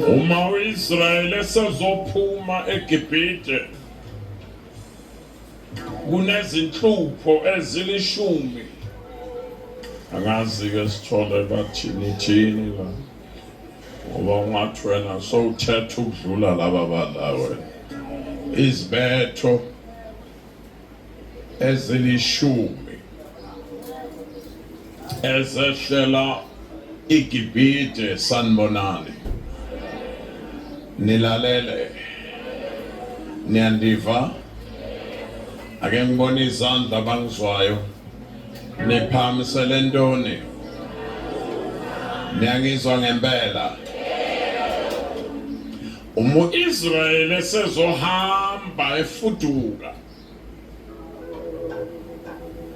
Uma uIsrayeli esezophuma eGibhide kunezinhlupho ezilishumi angazi ke sithole bathini thini la ngoba ungathi wena sowuthetha ukudlula laba balawe izibetho ezilishumi ezehlela igibhide sanibonani nilalele niyandiva ake ngibone izandla abangizwayo niphamisele ntoni niyangizwa ngempela Uma Israel esezohamba efuduka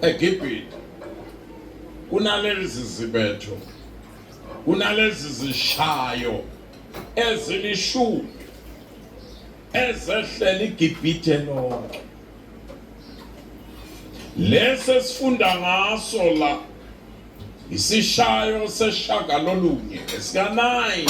eGibhithe kunalezi zibetho kunalezi zishayo ezilishumi ezehlela iGibhithe lonke lesi esifunda ngaso la isishayo seshaka lolunye esika-9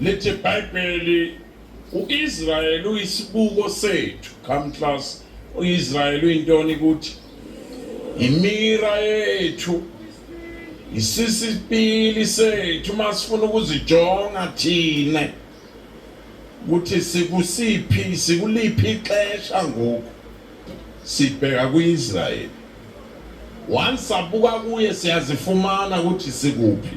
Lithi iBhayibheli uIsrael uyisibuko sethu. Come class, uIsrael uyintoni kuthi? Imira yethu. Isisipili sethu masifuna ukuzijonga thina. Ukuthi sikusiphi, sikuliphi ixesha ngoku. Sibheka kuIsrael. Once sabuka kuye siyazifumana ukuthi sikuphi.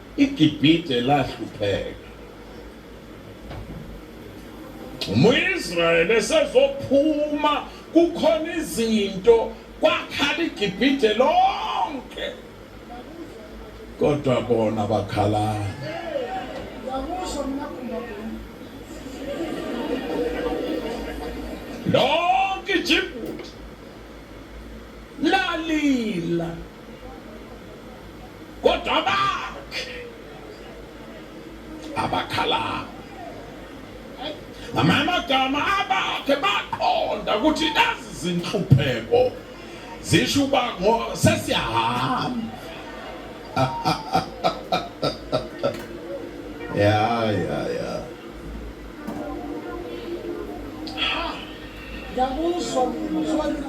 IGibhithe lahlupheka. Uma uIsrayeli esezophuma kukhona izinto kwakhala iGibhithe lonke. Kodwa bona bakhalana. Lonke iGibhithe lalila. kodwa abakhe abakhala ngamanye amagama abakhe baqonda ukuthi lezi zinhlupheko zisho uba sesiyahamba ya ya ya ngiyakuzwa mzwani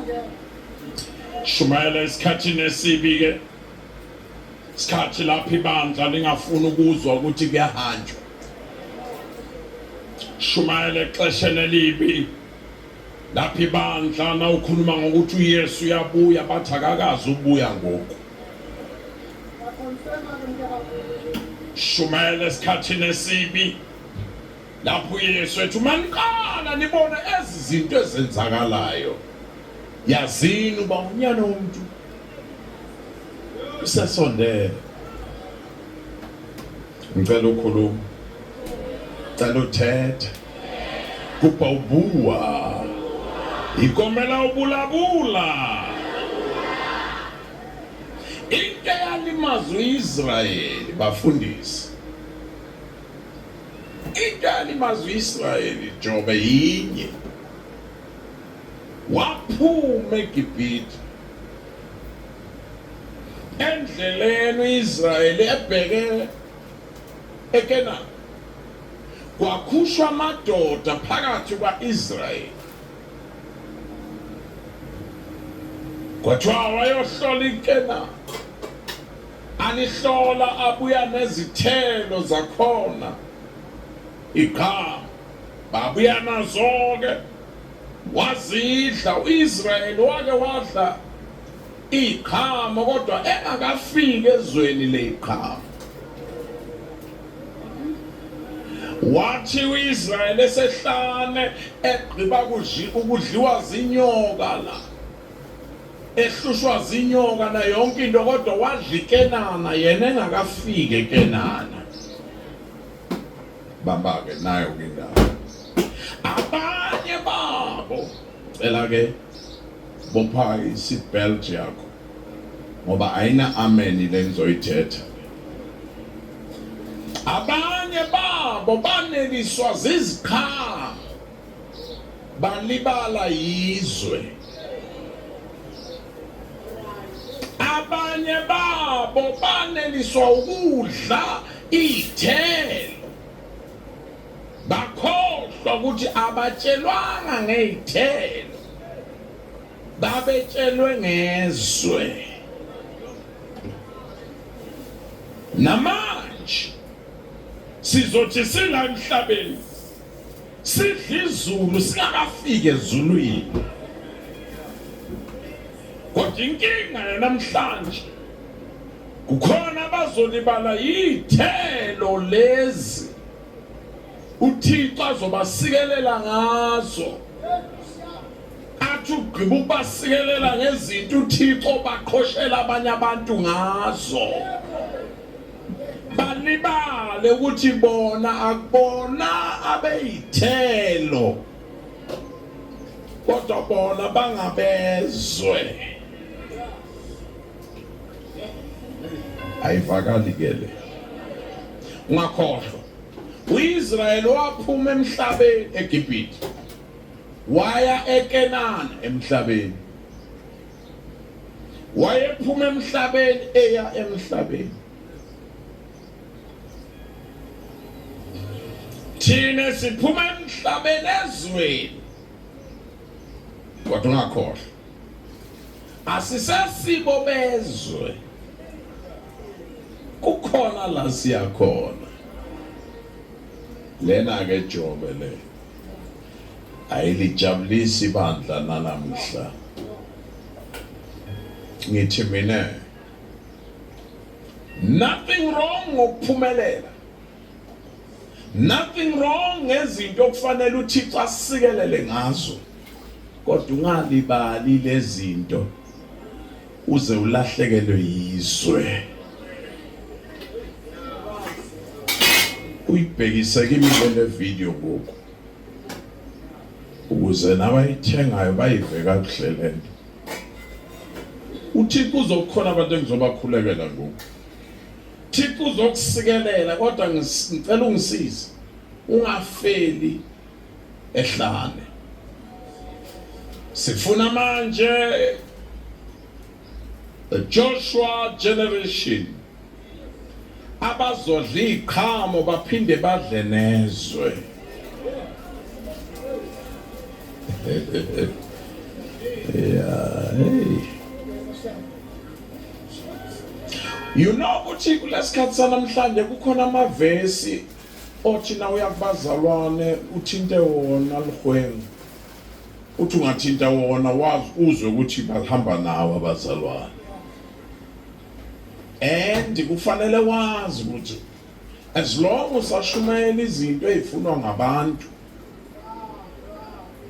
Shumayela esikhathini esibi-ke isikhathi lapho ibandla lingafuni ukuzwa ukuthi kuyahanjwa shumayela exesheni elibi lapho ibandla nawukhuluma ngokuthi uyesu uyabuya bathi akakazi ubuya ngoku shumayela esikhathini esibi Lapho uYesu ethi uma niqala nibona ezi zinto ezenzakalayo yazini uba unyana womuntu usesondele ngicela ukhuluma cela uthethe kubha ubuwa ikomela ubulabula into eyalimaza uIsrayeli bafundisi Idali mazwi Israyeli Jobe yinye waphuma eGibhithe endleleni uIsrayeli ebheke eKenani kwakhushwa amadoda phakathi kwaIsrayeli kwathiwa wayohlola iKenani Anihlola abuya nezithelo zakhona igqama babuya nazo-ke wazidla u-israyeli wake wadla iy'qhamo kodwa engakafiki ezweni ley'qhamo wathi u-israyeli esehlane egqiba ukudliwa zinyoka la ehlushwa zinyoka na yonke into kodwa wadla ikenana yena engakafiki ekenana bamba-ke nayo ke indawo abanye babo cela-ke bopha i-seatbelt yakho ngoba ayina-ameni le ngizoyithetha abanye babo baneliswa zizikhalo balibala yizwe abanye babo baneliswa ukudla iy'thelo bakhohlwa ukuthi abatshelwanga ngey'thelo babetshelwe ngezwe namanje sizothi singamhlabeni sidla izulu singakafiki ezulwini kodwa inkinga yanamhlanje kukhona abazolibala yithelo lezi uthixo azobasikelela ngazo athi ugqiba ukubasikelela ngezinto uthixo baqhoshela abanye abantu ngazo balibale ukuthi bona akubona abeyithelo kodwa bona bangabezwe ayivakali ke le ungakhohlwa uIsrayeli waphuma emhlabeni eGibhithe waya eKenana emhlabeni wayephuma emhlabeni eya emhlabeni thina siphuma emhlabeni ezweni kodwa ungakhohlwa asisesibo bezwe kukhona la siyakhona lena ke jobe le Ayilijabulisi ibandla nanamuhla. Ngithi mina nothing wrong ngokuphumelela. Nothing wrong ngezinto okufanele uThixo asikelele ngazo. Kodwa ungalibali lezinto uze ulahlekelwe yizwe uyibhekise kimi le video ngoku ukuze nabayithengayo bayive kakuhle le nto uthixo uzokukhona abantu engizobakhulekela ngoku thixo uzokusikelela kodwa ngicela ungisize ungafeli ehlane sifuna manje the Joshua generation abazodla iqhamo baphinde badle nezwe yeah hey you know ukuthi kulesikhathi sanamhlanje kukhona amavesi othi na uya kubazalwane uthinte wona lihwengu uthi ungathinta wona wazi uzwe ukuthi bahamba nawo abazalwane and kufanele wazi ukuthi as long usashumayela izinto ezifunwa ngabantu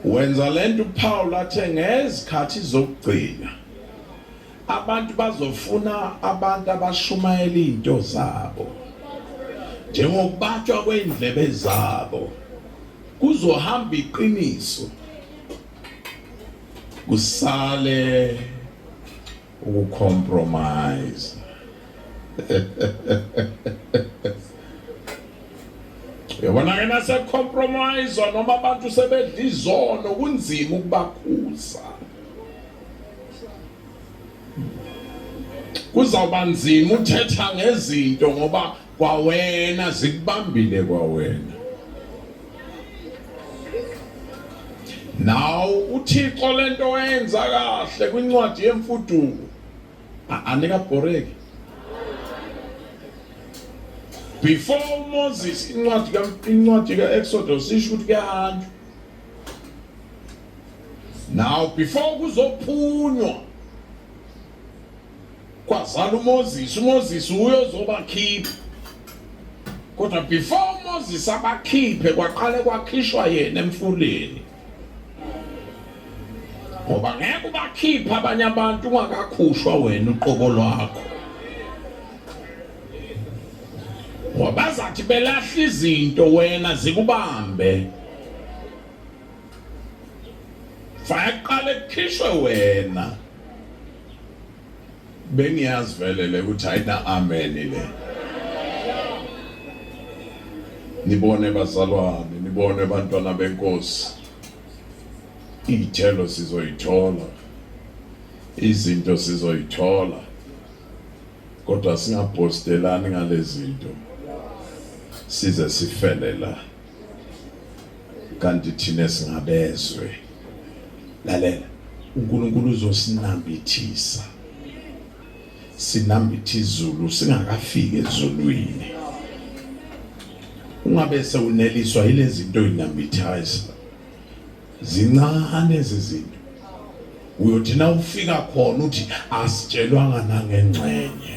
wenza lento uPaul athe ngezikhathi zokugcina Abantu bazofuna abantu abashumayela izinto zabo njengokubatshwa kweindlebe zabo kuzohamba iqiniso kusale ukucompromise yabona ke nasecompromise noma abantu sebedla izono kunzima ukubakhuza kuzawuba nzima uthetha ngezinto ngoba kwawena zikubambile kwawena naw uthixo lento oyenza kahle kwincwadi yemfuduko anikabhoreki before uMoses incwadi ka incwadi kaExodus isho ukuthi kuyahanjwa Now before kuzophunywa kwazala uMoses, uMoses uyozobakhipha. Kodwa before uMoses abakhiphe kwaqale kwakhishwa yena emfuleni. Ngoba ngeke ubakhiphe abanye abantu ungakakhushwa wena uqobo lwakho. Ngoba bazathi belahla izinto wena zikubambe. fayaqala ekukhishwe wena bengiyazi vele le ukuthi ayina amen le nibone bazalwane nibone abantwana benkosi iy'thelo sizoyithola izinto sizoyithola kodwa singabhostelani ngalezinto size sifele la kanti thina singabezwe lalela uNkulunkulu uzosinambithisa sinambithe izulu singakafiki ezulwini ungabe sewuneliswa yilezi zinto ozinambithaza zincane izizinto uyothi na ufika khona uthi asitshelwanga nangengxenye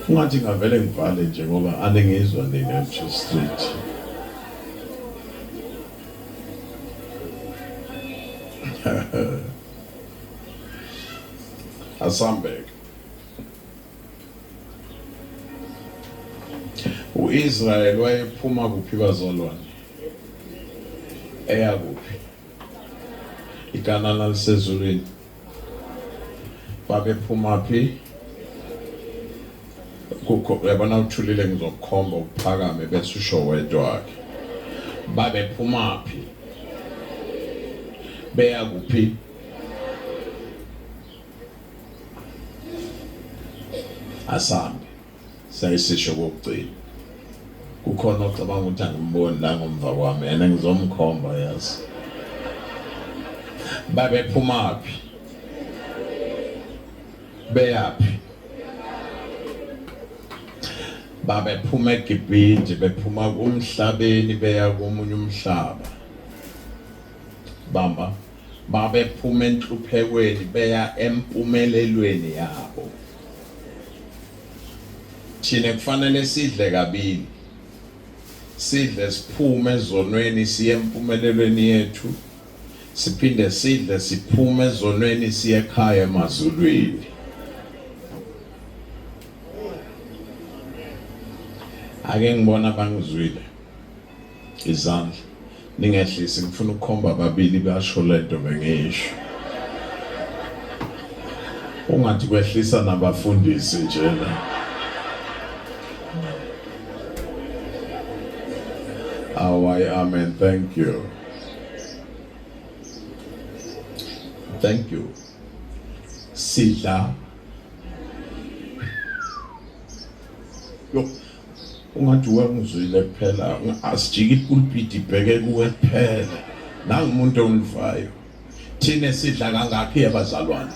Ungathi ngavele ngivale nje ngoba aningizwa nina nje straight. Asambek. U-Israel wayephuma kuphi bazalwane? Eya kuphi? Ikanana lisezulwini. babephumaphi kukho yabona uthulile ngizokukhomba ukuphakame bese usho wedwa wakhe babephumaphi beya kuphi asambe Sayisisho kokugcina. Kukhona ocabanga ukuthi angimboni la ngomva kwami yena ngizomkhomba yazi. Babephumaphi? Beyaphi? babephuma eGibhidi bephuma kumhlabeni beya komunye umhlaba bamba babephuma enhluphekweni beya empumelelweni yabo thina kufanele sidle kabili sidle siphume ezonweni siye empumelelweni yethu siphinde sidle siphume ezonweni siye ekhaya emazulwini ake ngibona bangizwile izandla ningehlisi ngifuna ukukhomba babili basho lento bengiyisho ungathi kwehlisa nabafundisi njena awayi amen thank you thank you sidla Ungathi wengizwile kuphela asijike ipulpiti ibheke kuwe kuphela nangumuntu ongivayo thina sidla kangakhi abazalwane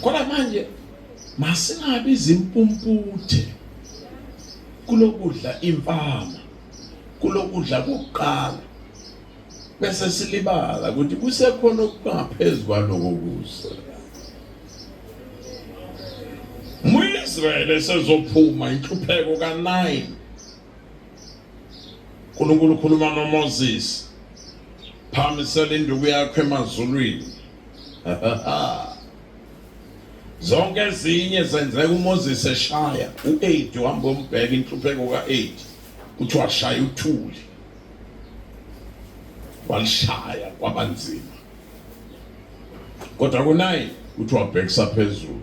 kodwa manje masingabi izimpumputhe kulokudla impama kulokudla kokuqala bese silibala ukuthi kusekhona okungaphezu kwaloko kusa Israyeli esezophuma inhlupheko ka9 uNkulunkulu ukhuluma noMoses phamisela induku yakho emazulwini zonke ezinye zenzeka uMoses eshaya u8 uhamba umbheka inhlupheko ka8 uthi washaya uthuli walishaya kwabanzima kodwa kunaye uthi wabhekisa phezulu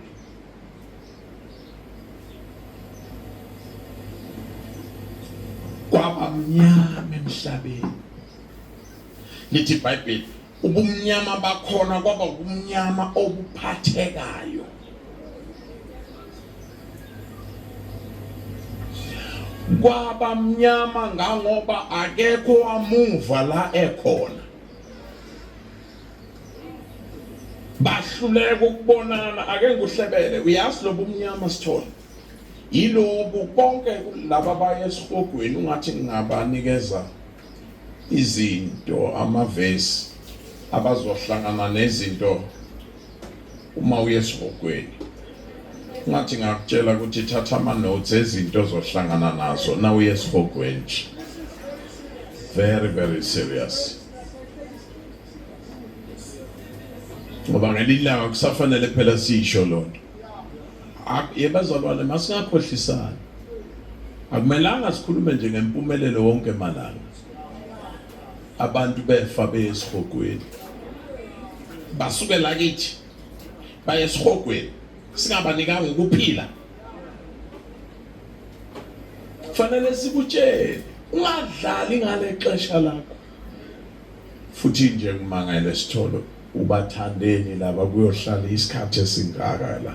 kwabamnyama emhlabeni lithi ibhayibheli ubumnyama bakhona kwaba ubumnyama obuphathekayo kwaba mnyama ngangoba akekho wamuva la ekhona bahluleka ukubonana ake nguhlebele uyazi lobu mnyama sithole yilobu konke laba baye esihogweni ungathi ngingabanikeza izinto amavesi abazohlangana nezinto uma uye esihogweni ngathi ngakutshela ukuthi thatha ama-notes ezinto ozohlangana nazo na uye esihogweni nje very very serious ngoba ngelinye ilanga kusafanele phela siyisho loo nto yebazalwane masingakhohlisani akumelanga sikhulume nje ngempumelelo wonke malanga abantu befa beyesihogweni basuke la kithi baye esihogweni singabanikanga ukuphila kufanele sikutshele ungadlali ngale xesha lakho futhi nje ngimangele sithole ubathandeni laba kuyohlala isikhathi esingaka la